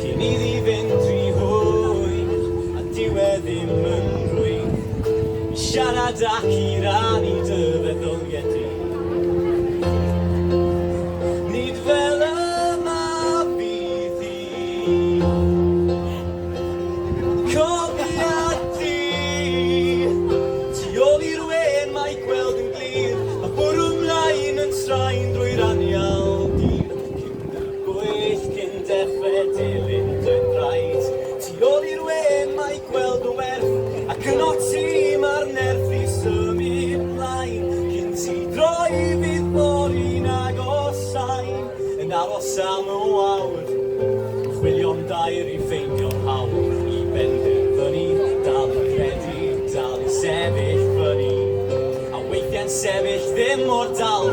Cyn iddi fynd rhy hwyr, a dyw e ddim yn rhwydd i siarad ac i rannu dy feddyldiau di. Nid fel y mab fydd hi, cofiad di. Tu ôl i'r wên mae gweld yn glir, a bwrw 'mlaen yn straen drwy'r anial di. Gwyll cyn dechre dilyn dy draed Tu ôl i'r wen mae gweld o werth Ac yn o ti ma'r nerth i symud mlaen Cyn ti droi fydd fory'n agosáu Yn aros am y wawr Yn chwilio am dair i ffeindio'r hawl I benderfynu dal i gredu Dal i sefyll fyny A weithiau'n sefyll ddim mor dal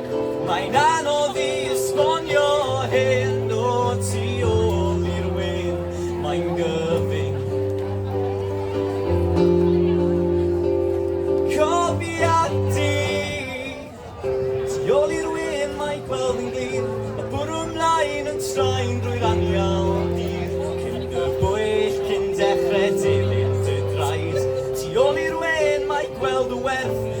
Mae'n anodd i esbonio hyn o tu ôl i'r wên, mae'n gyfyng. Cofiad di! Tu ôl i'r wên mae gweld yn glir, y bwrw mlaen yn troi'n rwyr anial dir, cyn y bwyll cyn dechrau dilyn dy draed. Tu ôl i'r wên mae gweld y werth,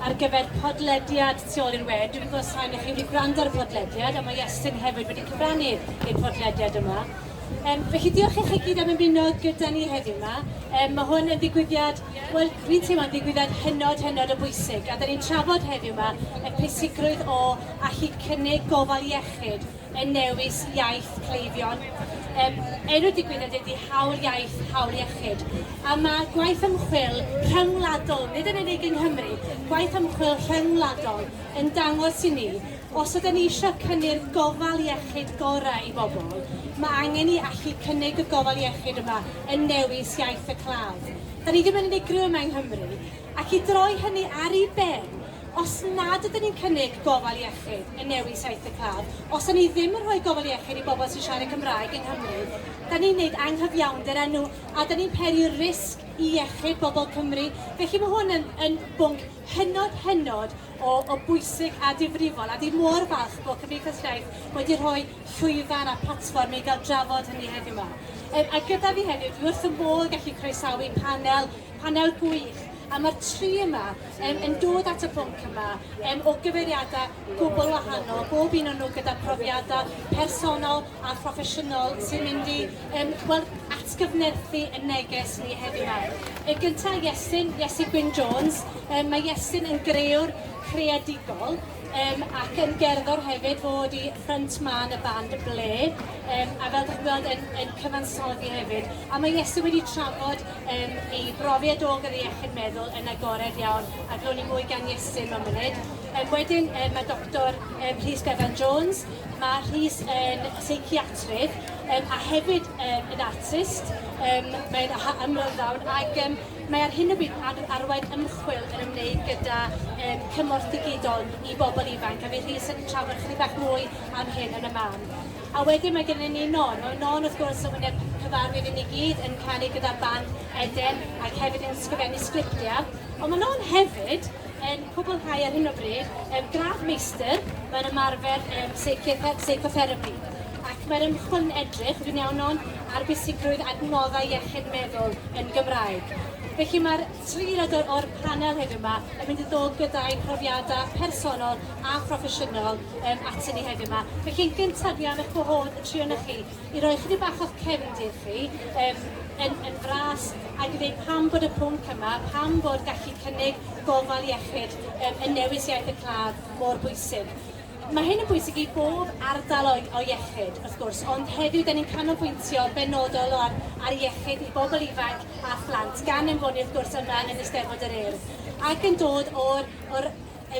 ar gyfer podlediad tu ôl i'r we. Dwi'n gwybod sain i chi wedi gwrando ar y podlediad, a mae Iestyn hefyd wedi cyfrannu i'r podlediad yma. Um, felly diolch i chi gyd am ymuno gyda ni heddiw yma. Um, mae hwn yn ddigwyddiad, wel, fi'n teimlo'n ddigwyddiad hynod, hynod o bwysig. A da ni'n trafod heddiw yma y pwysigrwydd o allu cynnig gofal iechyd yn newis iaith cleifion. Yym, enw'r digwyddiad ydy Hawl Iaith, Hawl Iechyd, a mae gwaith ymchwil rhyngwladol, nid yn unig yng Nghymru, gwaith ymchwil rhyngwladol yn dangos i ni, os ydym ni eisiau cynnyrdd gofal iechyd gorau i bobl, mae angen i allu cynnig y gofal iechyd yma yn newis iaith y claf. Da ni ddim yn unigryw yma yng Nghymru, ac i droi hynny ar ei ben, Os nad ydyn ni'n cynnig gofal iechyd yn newid saith y claf, os ydyn ni ddim yn rhoi gofal iechyd i bobl sy'n siarad Cymraeg yng Nghymru, dan ni'n gwneud anghyfiawnder â nhw a dan ni'n peri risg i iechyd bobl Cymru. Felly mae hwn yn yn bwnc hynod, hynod o o bwysig a difrifol a dwi mor falch bod Cymdeithas Iaith wedi rhoi llwyfan a platfform i gael drafod hynny heddiw 'ma. Yym a gyda fi heddiw, dwi wrth fy modd gallu croesawu panel Panel gwych, a mae'r tri yma um, yn dod at y pwnc yma um, o gyfeiriadau gwbl wahanol, bob un o'n nhw gyda profiadau personol a phroffesiynol sy'n mynd i um, well, atgyfnerthu y neges ni heddiw yma. Y gyntaf, Iestyn, Iesu Gwyn Jones. Um, mae Iestyn yn greuwr creadigol um, ac yn gerddor hefyd fod i ffrant man y band Ble um, a fel ydych chi'n gweld yn, yn cyfansoddi hefyd. A mae Iesu wedi trafod Yym, ei brofiad o gyda iechyd meddwl yn agored iawn, a glwn ni mwy gan Iesu mewn munud. Yym, wedyn, yy, mae Doctor um, Rhys Bevan Jones, mae Rhys yn seiciatrydd um, a hefyd um, yn artist, um, mae'n ymryddawn ac um, mae ar hyn o bryd ar arwain ymchwil yn ymwneud gyda um, cymorth digidol i bobl ifanc a fydd Rhys yn trafod chydig bach mwy am hyn yn y man. A wedyn mae gennyn ni Non. Wel Non wrth gwrs yn wyneb cyfarwydd i ni gyd yn canu gyda'r band Eden ac hefyd yn sgrifennu sgriptiau. Ond mae Non hefyd yn cwblhau ar hyn o bryd um, gradd meistr mewn ymarfer um, seicotherapy. Ac mae'r ymchwil'n edrych, fi'n iawn Non, ar bwysigrwydd adnoddau iechyd meddwl yn Gymraeg. Felly mae'r Tri aelod o'r panel heddiw 'ma yn mynd i ddod gyda'u profiadau personol a phroffesiynol um, atyn ni heddiw 'ma. Felly yn gyntaf dwi am eich gwahodd y tri o'na chi i roi chydig bach o'ch cefndir chi um, yn, yn fras ac i ddweud pam bod y pwnc yma, pam bod gallu cynnig gofal iechyd um, yn newis iaith y claf mor bwysig. Mae hyn yn bwysig i bob ardal o, o iechyd, wrth gwrs, ond heddiw da ni'n canolbwyntio benodol ar, ar iechyd i bobl ifanc a phlant, gan ymfoni wrth gwrs yma yn Eisteddfod yr Urdd, ac yn dod o'r, or,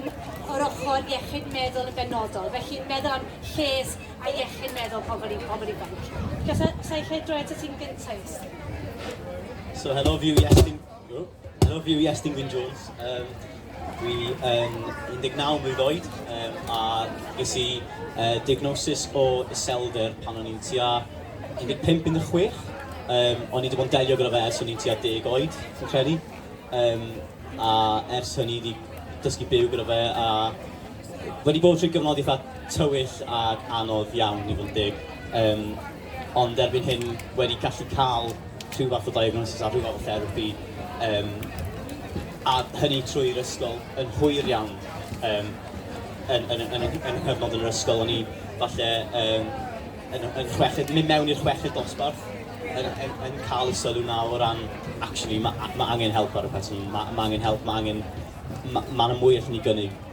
yn, o'r ochr iechyd meddwl yn benodol, felly meddwl am lles a iechyd meddwl pobl, i, pobl ifanc. Gallai lle droi at y tîm gyntaf. So helo, fi yw Iestyn... Helo, fi yw Iestyn Gwyn Jones. Um, dwi yn 19 mlwydd oed um, a ges i uh, diagnosis o iselder pan o'n i'n tua 15-16. Um, o'n i wedi bod yn delio gyda fe ers o'n i'n tua 10 oed, fi'n credu. Um, a ers hynny wedi dysgu byw gyda fe a wedi bod trwy gyfnod eitha tywyll ac anodd iawn i fod yn dig. Um, Ond erbyn hyn, wedi gallu cael rhyw fath o diagnosis a rhyw fath o therapi, um, a hynny trwy'r ysgol yn hwyr iawn, um, yn, yn, yn, yn, yn cyfnod yn yr ysgol, o'n i falle um, yn, yn chweched, mynd mewn i'r chweched dosbarth, yn, yn, yn cael y sylw na o ran, actually, mae ma angen help ar y person, mae ma angen help, mae angen, mae ma mwy allan ni gynnig.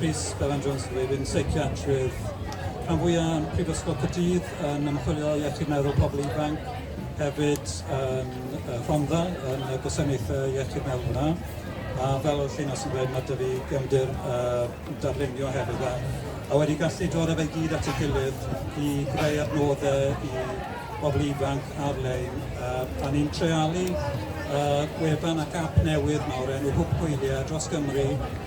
Rhys Bevan Jones ydw i, fi'n seiciatrydd rhan fwyaf yn Prifysgol Caerdydd yn ymchwilio iechyd meddwl pobl ifanc, hefyd yn uh, Rhondda yn y gwasanaethau iechyd meddwl yna. A fel oedd Llinos yn dweud, mae dy fi gefndir uh, darlunio hefyd. A, a wedi gallu dod efo'i gyd at ei gilydd i greu adnoddau i bobl ifanc ar-lein. Uh, a ni'n trealu uh, gwefan ac app newydd mawr enw Hwb Hwyliau dros Gymru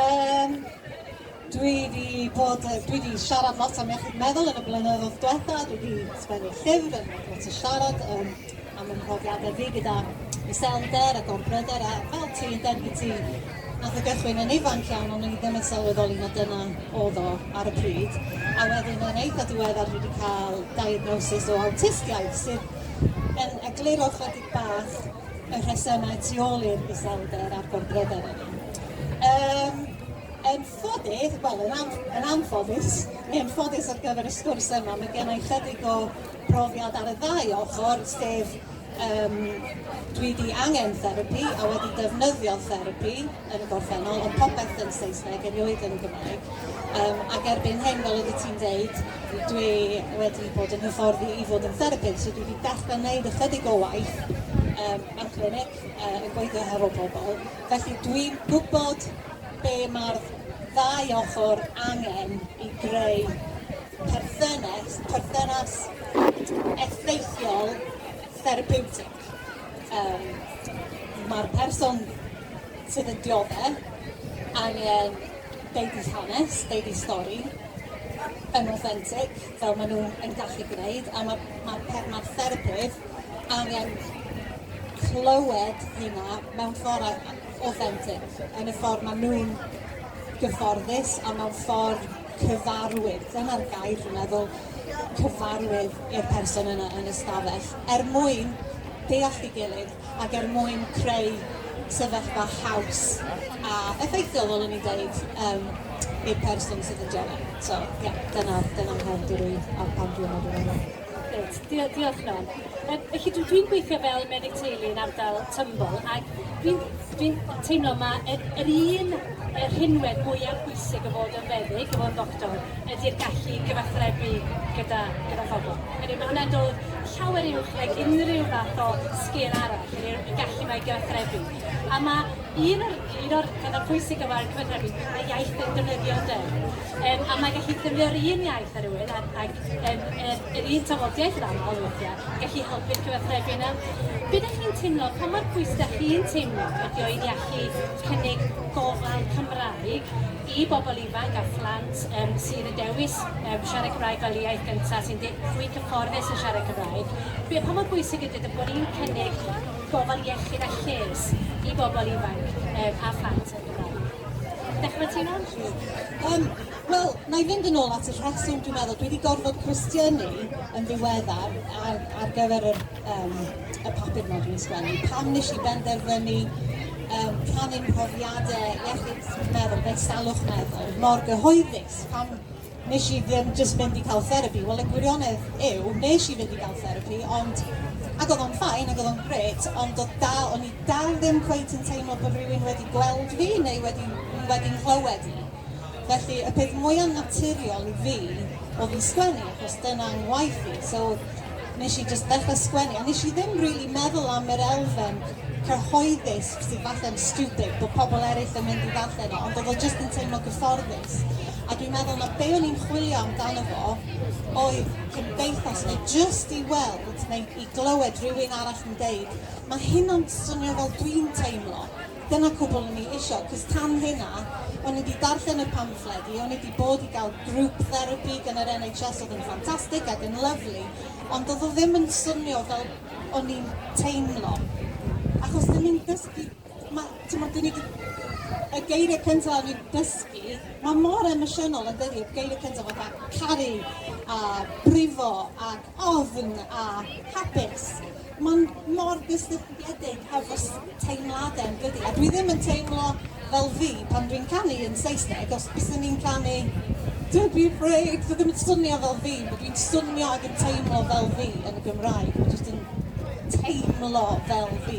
Um, dwi wedi bod, dwi wedi siarad lot am iechyd meddwl yn y blynyddoedd diwetha, dwi wedi sgwennu llyfr yn lot o siarad um, am y mhrofiadau fi gyda iselder a gorbryder a fel ti yn derbyn ti nath o gychwyn yn ifanc iawn ond ni ddim yn sylweddoli na dyna oedd o ar y pryd a wedyn yn eitha diweddar dwi wedi cael diagnosis o awtistiaeth sydd yn egluro chydig bach y rhesymau tu ôl i'r iselder a'r gorbryder yna. Um, yn ffodus, wel, yn, an, yn anffodus, neu yn ffodus ar gyfer y sgwrs yma, mae gen i chydig o brofiad ar y ddau ochr, sef um, dwi wedi angen therapi a wedi defnyddio therapi, yn y gorffennol, ond popeth yn Saesneg erioed yn y Gymraeg. Um, ac erbyn hyn, fel oeddet ti'n deud, dwi wedi bod yn hyfforddi i fod yn therapydd, so dwi wedi dechrau gwneud ychydig o waith um, mewn clinic uh, yn gweithio hefo pobl. Felly dwi'n gwybod be mae'r ddau ochr angen i greu perthynas, perthynas effeithiol therapeutig. ac um, mae'r person sydd yn dioddau angen deud i hanes, deud i stori, yn authentic, fel maen nhw yn gallu gwneud, a mae'r ma, ma, ma therapydd angen clywed hynna mewn ffordd authentic, yn y ffordd maen nhw'n gyfforddus a mewn ffordd cyfarwydd, dyna'r gair dwi'n meddwl, cyfarwydd i'r person yna yn y stafell, er mwyn deall ei gilydd ac er mwyn creu sefyllfa haws a effeithiol, fel o'n i'n dweud, um, i'r person sydd yn joio. So, ie, yeah, dyna, dyna mhen dwi ar pan dwi'n meddwl Reit, dio diolch Mel. Yy felly dwi dwi'n gweithio fel meddyg teulu yn ardal Tymbol ac dwi'n dwi'n teimlo mae yr, yr un y rhinwedd mwyaf bwysig o fod yn feddyg, o fod yn ddoctor, ydy'r gallu gyfathrebu gyda, gyda phobl. Hynny, mae hwnna'n dod llawer uwch nag unrhyw fath o sgil arall, hynny, y gallu mae gyfathrebu. A mae Un o'r, un o'r pethau pwysig o ran cyfathrebu yw pa iaith yn defnyddio ynde. Um, a mae gallu defnyddio'r un iaith ar rywun ac, ac um, er, yr un tafodiaeth yn aml weithiau, gallu helpu'r cyfathrebu yna. Be ydych chi'n teimlo, pa mor pwys ydych chi'n teimlo ydy o i ni allu cynnig gofal Cymraeg i bobl ifanc a phlant um, sydd yn dewis um, siarad Cymraeg fel iaith gyntaf, sy'n fwy cyfforddus yn siarad Cymraeg. Be, pa mor bwysig ydy bod ni'n cynnig gofal iechyd a lles i bobl ifanc um, a phlant yn Gymraeg. Dechrau ti'n on? Um, Wel, na i fynd yn ôl at y rheswm, dwi'n meddwl, dwi wedi gorfod cwestiynu yn ddiweddar ar, ar gyfer yr, um, y papur yma dwi'n sgwennu. Pam nes i benderfynu um, rhannu'n profiadau iechyd meddwl, beth salwch meddwl, mor gyhoeddus, pam Nes i ddim jyst mynd i cael therapi, wel y gwirionedd yw, nes i fynd i gael therapi, ond ac oedd o'n ffain, ac oedd o'n gret, ond oedd dal, o'n i dal ddim cweit yn teimlo bod rhywun wedi gweld fi neu wedi, wedi nghlywed i. Felly, y peth mwyaf naturiol i fi oedd i sgwennu, achos dyna ngwaith i. So, nes i just ddechrau sgwennu, a nes i ddim really meddwl am yr elfen cyhoeddus sydd falle'n stupid bod pobl eraill yn mynd i ddarllen o, ond oedd o just yn teimlo gyfforddus. plant, a dwi'n meddwl na be o'n i'n chwilio amdano fo oedd cymdeithas neu jyst i weld neu i glywed rhywun arall yn deud ma' hynna'n swnio fel dwi'n teimlo. Dyna cwbl o'n i isio, cos tan hynna, o'n i wedi darllen y pamffled i, o'n i wedi bod i gael grŵp therapi gan yr NHS oedd yn ffantastig ac yn lyfli, ond oedd o ddim yn swnio fel o'n i'n teimlo. Achos 'dyn ni'n dysgu Ma', t'mod, 'dyn ni 'di... Y geirie cynta o'n i'n dysgu, ma' mor emosiynol yndydi? Y geirie cynta fatha caru a brifo ac ofn a hapus. Ma'n mor gysylltiedig hefo s- teimlade yndydi? A dwi ddim yn teimlo fel fi pan dwi'n canu yn Saesneg, os bysen i'n canu Don't be afraid, sa ddim yn swnio fel fi, ma' dwi'n swnio ac yn teimlo fel fi yn y Gymraeg, ma' jyst yn teimlo fel fi.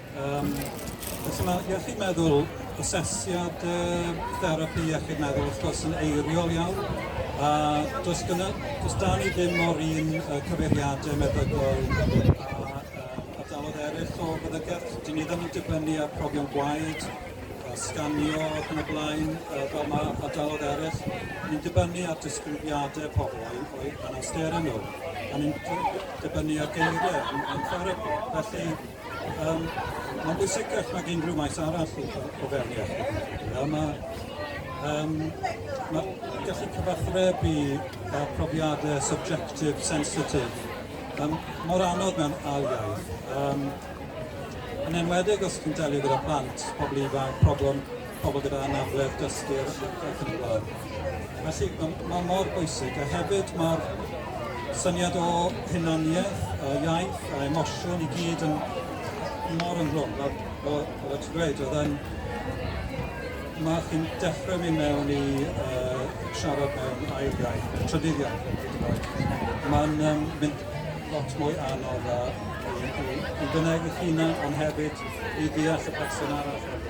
Um, felly mae iechyd meddwl, asesiad uh, therapi iechyd meddwl wrth gwrs yn eiriol iawn, a does, gyda, does da ni ddim mor un uh, cyfeiriadau meddygol o feddygaeth. Dyn ni ddim yn dibynnu ar profion gwaed, sganio ac yn y blaen, fel mae ardaloedd eraill. Ni'n dibynnu ar disgrifiadau pobl o'i, o'i anawsterau nhw, a ni'n dibynnu ar geiriau yn, yn therapi. Felly, Yym mae'n bwysicach nag unrhyw maes arall o, o fewn iechyd. Yy mae um, ma gallu cyfathrebu a profiadau subjective, sensitif, um, mor anodd mewn ail iaith. Um, yn enwedig os chi'n delio gyda plant, pobl ifanc, problem pobl gyda anabledd dysgu ac yn y blaen. Felly mae mor bwysig a hefyd mae'r syniad o hunaniaeth, a iaith a emosiwn i gyd yn mor ynghlwm. Fel, fel, fel ti'n gweud, oedd yn... Mae chi'n dechrau mynd mewn i uh, siarad mewn ail iaith, trydydd iaith, mae'n um, mynd lot mwy anodd a i, i, i fynneg eich hunan, ond hefyd i ddeall y person arall hefyd.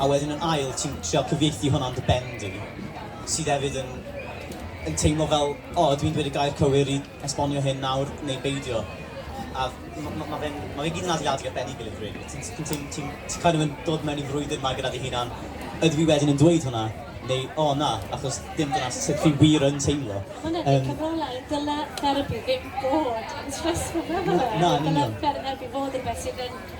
A wedyn yn ail ti'n trio cyfieithu hwnna yn dy ben di, sydd hefyd yn yn teimlo fel, o, ydw i'n dweud y gair cywir i esbonio hyn nawr neu beidio? A ma' ma' ma' fe'n... ma' fe gyd yn adeiladu ar ben ei gilydd rili. Ti'n ti'n ti'n ti'n ti'n kind of yn dod mewn i frwydr 'ma gyda dy hunan, ydw i wedyn yn dweud hwnna neu o na, achos dim dyna sut fi wir yn teimlo. Ma' hwnna'n neud cyfrolau, dyle therapi ddim bod yn stressful na ddyle e? Dyle therapi fod yn rwbeth sydd yn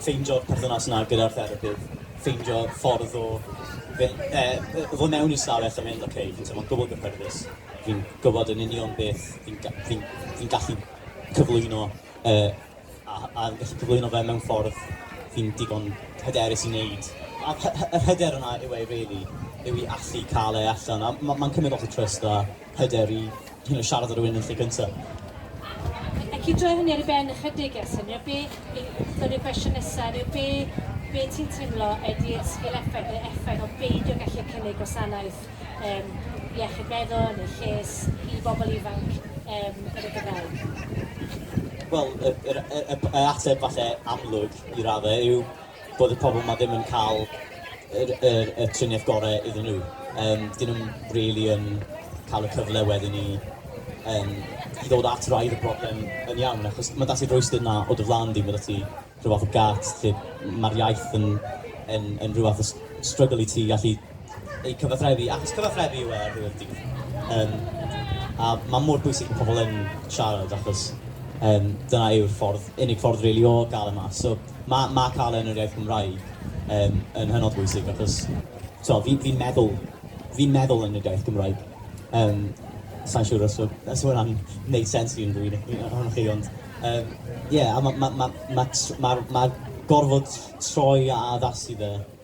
ffeindio'r perthynas 'na gyda'r therapydd, ffeindio ffordd o fyn- yy yy ddod mewn i stafell a mynd oce fi'n teimlo'n gwbwl gyffyrddus, fi'n gwbod yn union beth fi'n ga- fi'n fi'n gallu cyflwyno yy a a fi'n gallu cyflwyno fe mewn ffordd fi'n digon hyderus i neud. A'r hy- hy- yr hyder yna yw e rili, yw i allu ca'l e allan a ma' ma'n cymryd lot o trust a hyder i you know, siarad â rhywun yn lle gyntaf. Ac i droi hynny ar ei ben ychydig a syniad be, dod i'r gwestiwn nesaf, neu be, be ti'n teimlo ydy'r sgil effaith neu effaith o beidio gallu cynnig gwasanaeth um, iechyd meddwl neu lles i bobl ifanc um, yn y Gymraeg? Wel, y, y, y, y ateb falle amlwg i raddau yw bod y pobl 'ma ddim yn cael yr yr y triniaeth gore iddyn nhw. Yym, 'dyn nhw'm rili yn cael y cyfle wedyn i yym, i ddod at wraidd y broblem yn iawn, achos mae 'da ti'r rhwystyr 'na o dy flan di, mae 'da ti rhyw fath o gât lle mae'r iaith yn yn yn rhyw fath o struggle i ti gallu eu cyfathrebu, achos cyfathrebu yw e ar ddiwedd y dydd. Yym, a mae mor bwysig bod pobl yn siarad, achos yym, dyna yw'r ffordd, unig ffordd rili o gael e mas. So, Mae ma cael e yn yr iaith Gymraeg yn yn hynod bwysig achos t'o' fi fi'n meddwl fi'n meddwl yn yr iaith Gymraeg. Yym sai'n siŵr os ma' os ma' hwnna'n neud sense i unrhyw un o- un ohonoch chi ond yym ie a ma' ma' ma' ma' tr- ma'r ma'r gorfod troi a addasu fe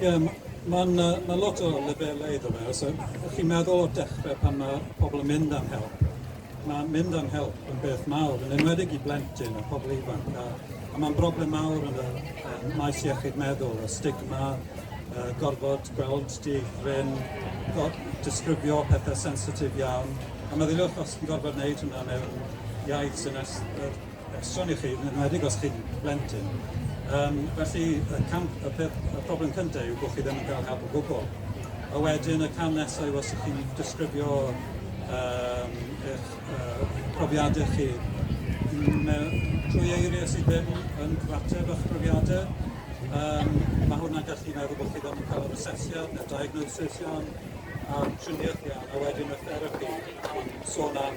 Ie, mae'n uh, ma lot o lefelau iddo fe. Os ydych chi'n meddwl o'r dechrau pan mae pobl yn mynd am help, mae mynd am help yn beth mawr, yn enwedig i blentyn a pobl ifanc. A, a mae'n broblem mawr yn y um, maes iechyd meddwl, y stigma, uh, gorfod gweld di rhywun, disgrifio pethau sensitif iawn. A meddyliwch os chi'n gorfod wneud hynna mewn iaith sy'n Sôn i chi, yn enwedig os chi'n blentyn. Um, felly, y, cam, y, peth, y problem cyntaf yw bod chi ddim yn cael help o gwbl. A wedyn, y cam nesaf yw os ydych chi'n disgrifio um, eich uh, profiadau chi trwy eiriau sydd ddim yn cyfateb â'ch profiadau, Um, mae hwnna'n gallu meddwl bod chi ddim yn cael yr asesiad neu'r diagnosis iawn a'r triniaeth iawn, a wedyn y therapi, sôn am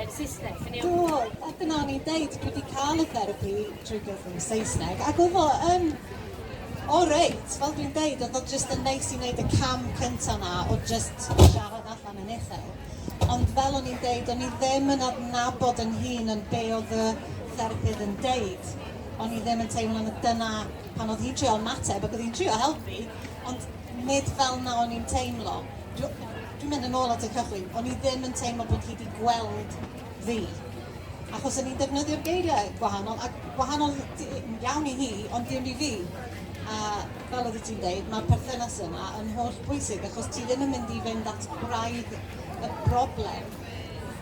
yn Saesneg. Yn iawn? Do, a dyna o'n i'n deud, dwi wedi cael y therapi drwy gyfrwng Saesneg, ac oedd o yn o reit, fel dwi'n deud, oedd o jyst yn neis i wneud y cam cyntaf na o jyst siarad allan yn uchel. Ond fel o'n i'n deud, o'n i ddim yn adnabod yn hun yn be oedd y therapydd yn deud. O'n i ddim yn teimlo na dyna pan oedd hi'n trio mateb ac oedd hi'n trio helpu, ond nid fel na o'n i'n teimlo. Dwi'n mynd yn ôl at y cychwyn, o'n i ddim yn teimlo bod hi 'di gweld fi. Achos o'n i'n defnyddio'r geiriau gwahanol, ac gwahanol iawn i hi, ond dim i fi. A fel oedd ti'n dweud, mae'r perthynas yna yn holl bwysig, achos ti ddim yn mynd i fynd at braidd y broblem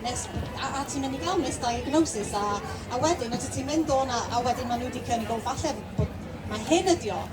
nes, a, a ti'n mynd i gael misdiagnosis a, a wedyn os ti'n mynd o'na a wedyn maen nhw wedi cynnig o falle bod mae hyn ydi o.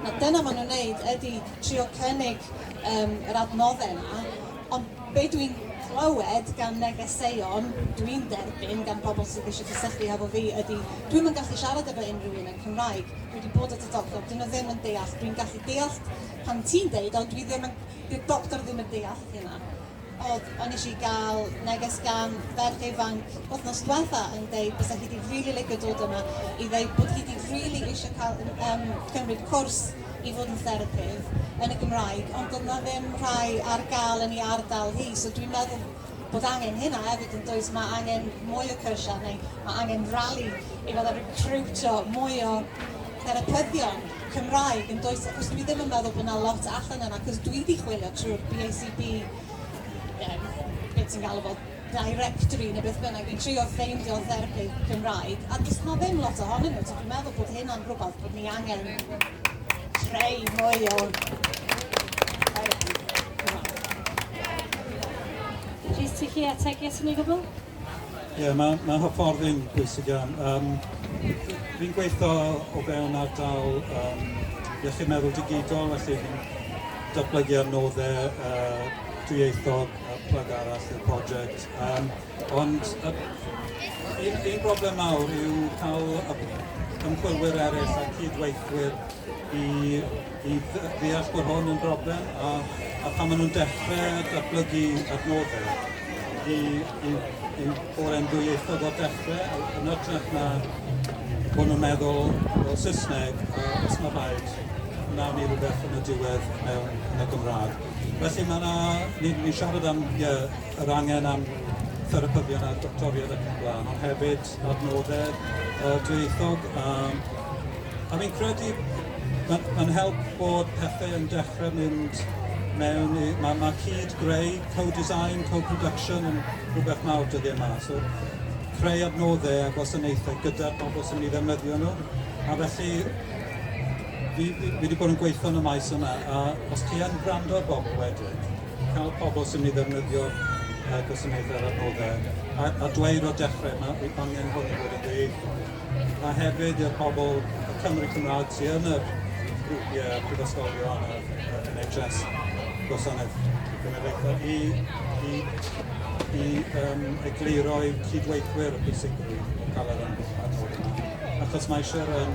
Na, dyna maen nhw'n wneud ydy trio cynnig um, yr adnoddau yna, ond be dwi'n clywed gan negeseuon dwi'n derbyn gan bobl sydd eisiau cysylltu hefo fi ydy dwi'n yn gallu siarad efo unrhyw un yn Cymraeg. Dwi wedi bod at y doctor, dyn nhw ddim yn deall. Dwi'n gallu deall pan ti'n deud, ond dwi ddim yn... Dyw'r doctor ddim yn deall hynna. Oedd, o'n nes i gael neges gan ferch ifanc wythnos diwetha yn deud bysa hi 'di rili licio dod yma i ddeud bod hi 'di rili eisiau cael yym cymryd cwrs i fod yn therapydd yn y Gymraeg ond doedd 'na ddim rhai ar gael yn ei ardal hi so dwi'n meddwl bod angen hynna hefyd yn does, mae angen mwy o cyrsiau neu mae angen rali i fatha recriwtio mwy o therapyddion. Cymraeg yn does achos dwi ddim yn meddwl bod 'na lot allan yna achos dwi 'di chwilio trwy'r BACB yym be' ti'n galw fo directory ne' beth bynnag i trio ffeindio therapydd Cymraeg a does 'na ddim lot ohonyn nhw so dwi'n meddwl bod hynna'n rhywbeth bod ni angen creu mwy o therapi Cymraeg. Rhys ti 'llu ategu ato ni gwbwl? Ie, yeah, mae, mae hyfforddi'n bwysig iawn. Um, fi'n gweithio o fewn ardal um, iechyd meddwl digidol, felly fi'n datblygu ar noddau uh, dwyieithog a plyg arall i'r prosiect. Um, ond uh, un, un broblem mawr yw cael ymchwilwyr eraill a cydweithwyr i i ddeall bod hwn yn broblem a, a pan maen nhw'n dechrau datblygu adnoddau i, i, i fore'n ddwyieithog o'r dechrau yn ytrach na bod nhw'n meddwl o Saesneg a os mae rhaid wnawn ni rhywbeth yn y diwedd mewn yn y Gymraeg. Felly mae yna, ni'n ni siarad am yeah, yr angen am therapyddion a doctoriad ac yn blaen, ond hefyd adnoddau yy dwyieithog a a fi'n credu ma' ma'n help bod pethe yn dechre mynd mewn i ma' ma' cyd-greu, co-design, co-production yn rhywbeth mawr dyddie 'ma so creu adnoddau a gwasanaethau gyda'r pobl sy'n mynd i ddefnyddio nhw a felly fi fi fi 'di bod yn gweitho yn y maes yma a os ti yn gwrando ar bobl wedyn cael pobl sy'n ei ddefnyddio uh, gwasanaeth ar adnoddau a, a dweud o dechrau mae bydd angen hwn i fod yn dweud a hefyd i'r pobl y Cymru Cymraeg sy'n yn yr grwpiau prifysgolion a, a NHS gwasanaeth genedlaethol i, i, i um, egluro i cydweithwyr y pwysigrwydd o gael yr adnoddau achos mae eisiau um,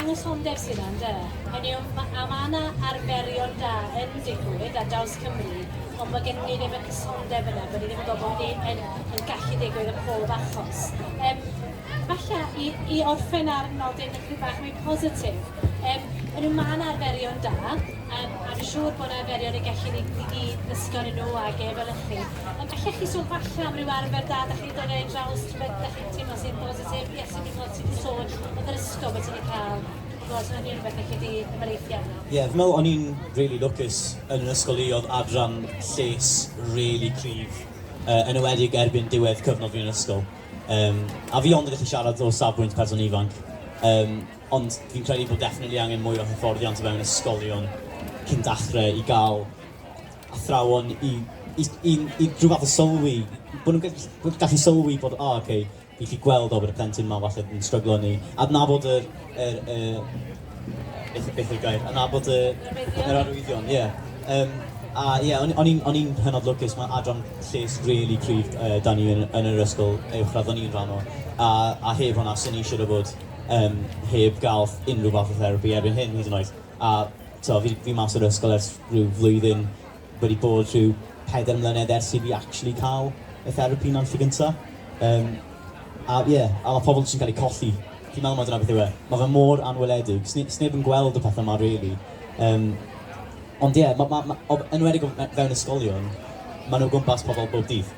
Anghysondeb sy' 'na, ynde? Hynny yw, ma', a ma' 'na arferion da yn digwydd ar draws Cymru, ond bod gennyn ni ddim y cysondeb yna, bod ni ddim yn gwybod bod hynny yn, yn gallu digwydd yn pob achos. Um, falle i, i orffen ar nodyn rhyw bach mwy positif, um, yn yw ma'n arferion da, um, a fi'n siŵr bod yna arferion y gallu ni, ni gyd ddysgon yn nhw ag efelychu. Um, allech chi sôn falle am ryw arfer da, da chi'n dod ei draws, rhywbeth da chi'n teimlo sy'n positif, yes, sy'n teimlo Ti di sôn bod yr ysgol bod ti di cael gweld hynny yn rhywbeth felly di ymwneithio arno? Ie, yeah, meddwl o'n i'n really lwcus yn yr ysgol i oedd adran lles really cryf, uh, yn ywedig erbyn diwedd cyfnod fi'n ysgol. Um, a fi ond yn gallu siarad o safbwynt person ifanc, um, ond fi'n credu bod definitely angen mwy o hyfforddiant o fewn ysgolion cyn dachrau i gael athrawon i, i, i, i rhyw fath o sylwi, bod nhw'n gallu sylwi bod, o, oh, okay, i chi gweld o bod y plentyn ma falle yn stryglo ni adnabod yr, yr, yr beth, beth yw'r gair, adnabod y, yr arwyddion, ie. Yeah. Um, a ie, yeah, o'n i'n hynod lwcus, mae adran lles really cryf uh, da ni yn, yn yr ysgol uwchradd o'n i'n rhan o. A, a heb hwnna, sy'n ni eisiau bod um, heb gael unrhyw fath o therapi erbyn hyn hyd yn oed. A to, fi, fi mas o'r ysgol ers rhyw flwyddyn wedi bod rhyw pedair mlynedd ers i fi actually cael y therapi yna am y tro gynta. Um, a ie, yeah, a mae pobl jyst yn cael eu colli. Fi'n meddwl mae dyna beth yw e. Mae fe mor anweledig. Sneb yn gweld y pethau yma, really. Um, ond ie, yeah, ma, ma, ma, enwedig fewn ysgolion, maen nhw gwmpas pobl bob dydd.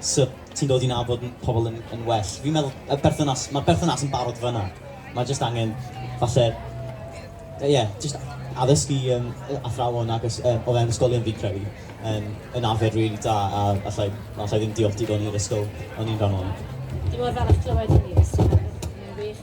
sut ti'n dod i nabod n- pobl yn yn well. Fi'n meddwl y berthynas, ma'r berthynas yn barod fan'na. Mae jyst angen falle, yy ie, jyst addysgu yym yy athrawon ac ys- yy o fewn ysgolion fi'n credu yn yn arfer rili da a allai allai ddim diolch digon i'r ysgol o'n i'n rhan ohono. Dwi mor falch clywed hynny Mister Harris, mae'n wych.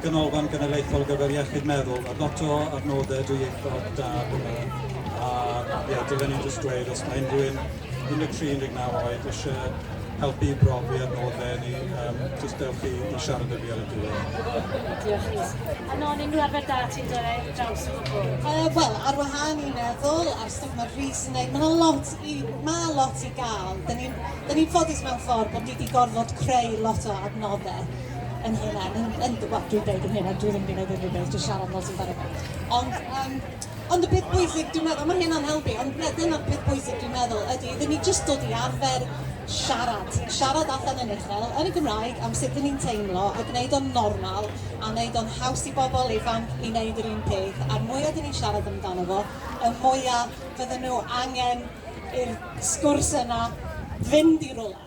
Ganolfan Genedlaethol ar gyfer Iechyd Meddwl, a ddato ar nodau dwy ieithog da hwnna. A ie, dylen ni'n just dweud, os mae unrhyw un 13, 19 oed eisiau helpu i brofi ar nodau ni, um, just dewch i, i siarad â fi ar y diwedd. Diolch Rhys. A non, unrhyw arfer da ti'n dod ar draws o gwbl? Uh, Wel, ar wahân i meddwl ar stwff mae Rhys yn neud, mae lot i, ma lot i gael. Da ni'n ni ffodus mewn ffordd bod ni wedi gorfod creu lot o adnoddau yn hynna, yn, yn, wel, dwi'n dweud yn hynna, dwi ddim wedi gwneud unrhyw beth, dwi'n siarad fel sy'n barod. Ond, um, ond y peth bwysig, dwi'n meddwl, mae hynna'n helpu, ond na, dyna'r peth bwysig dwi'n meddwl, ydy, iddyn ni jyst dod i arfer siarad, siarad allan yn uchel, yn y Gymraeg, am sut ni'n teimlo, a gwneud o'n normal, a wneud o'n haws i bobl ifanc i wneud yr un peth, a'r mwyaf dyn ni'n siarad amdano fo, y mwyaf fydden nhw angen i'r sgwrs yna fynd i rolau.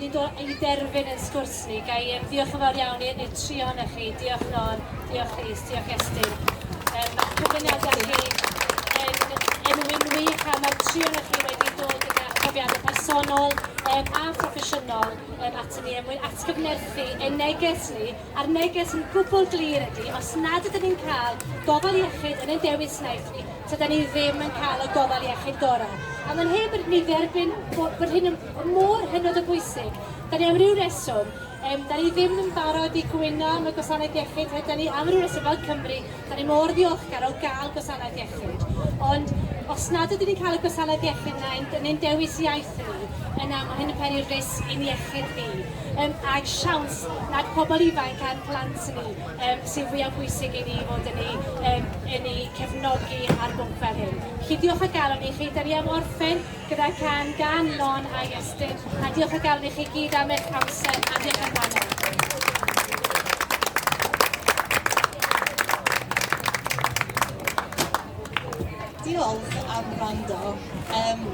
Nid o i derfyn yn sgwrs ni. Ga i yym ddiolch yn fawr iawn i- i'r tri ohonoch chi. Diolch Norm, diolch Rhys, diolch Estyn. Yym mae'ch cyflwyniadau chi yn yn win wych a mae'r tri ohonoch chi wedi dod yn eich profiadau personol yym a phroffesiynol yym atyn ni er mwyn atgyfnerthu ein neges ni a'r neges yn gwbl glir ydy, os nad ydyn ni'n cael gofal iechyd yn ein dewis iaith ni, tydan ni ddim yn cael y gofal iechyd gorau. A mae'n hen bod ni dderbyn bod, bod hyn yn mor hynod o bwysig. Da ni am ryw reswm, um, da ni ddim yn barod i gwyno am y gwasanaeth iechyd, da ni am ryw reswm fel Cymru, Dan ni mor ddiolchgar o gael gwasanaeth iechyd, ond os nad ydyn ni'n cael y gwasanaeth iechyd yna yn ein dewis iaith ni, yna mae hyn yn peri risg i'n iechyd ni, um, a'r siawns nad pobl ifanc a'n plant ni um, sy'n fwyaf bwysig i ni fod yn ei, um, yn ei cefnogi ar bwnc fel hyn. Felly diolch o galon i chi, da ni am orffen Gyda can gan Lon a Iestyn, a diolch o galon i chi gyd am eich amser a diolch am rhannu. diolch am rando. Um,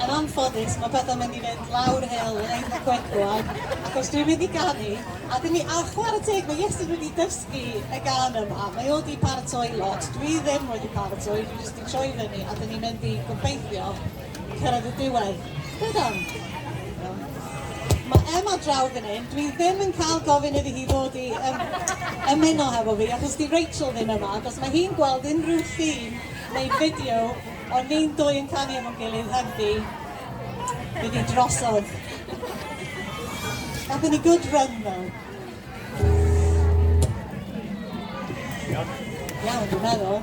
yn anffodus, mae pethau mynd i fynd lawr hel yn eitha quick rwan, achos dwi'n mynd i ganu, a dyn ni, a chwarae teg, mae Iestyn wedi dysgu y gan yma, mae o wedi paratoi lot, dwi ddim wedi paratoi, dwi jyst troi fyny a dyn ni'n mynd i gobeithio cyrraedd y diwedd. Beth am? Mae Emma draw fan hyn, dwi ddim yn cael gofyn iddi hi ddod i um, ymuno hefo fi, achos di Rachel ddim yma, achos mae hi'n gweld unrhyw llun neu fideo o ni'n dwy yn canu efo'n gilydd hefdi, fydd hi drosodd. Gafon ni good run though. Iawn, dwi'n meddwl.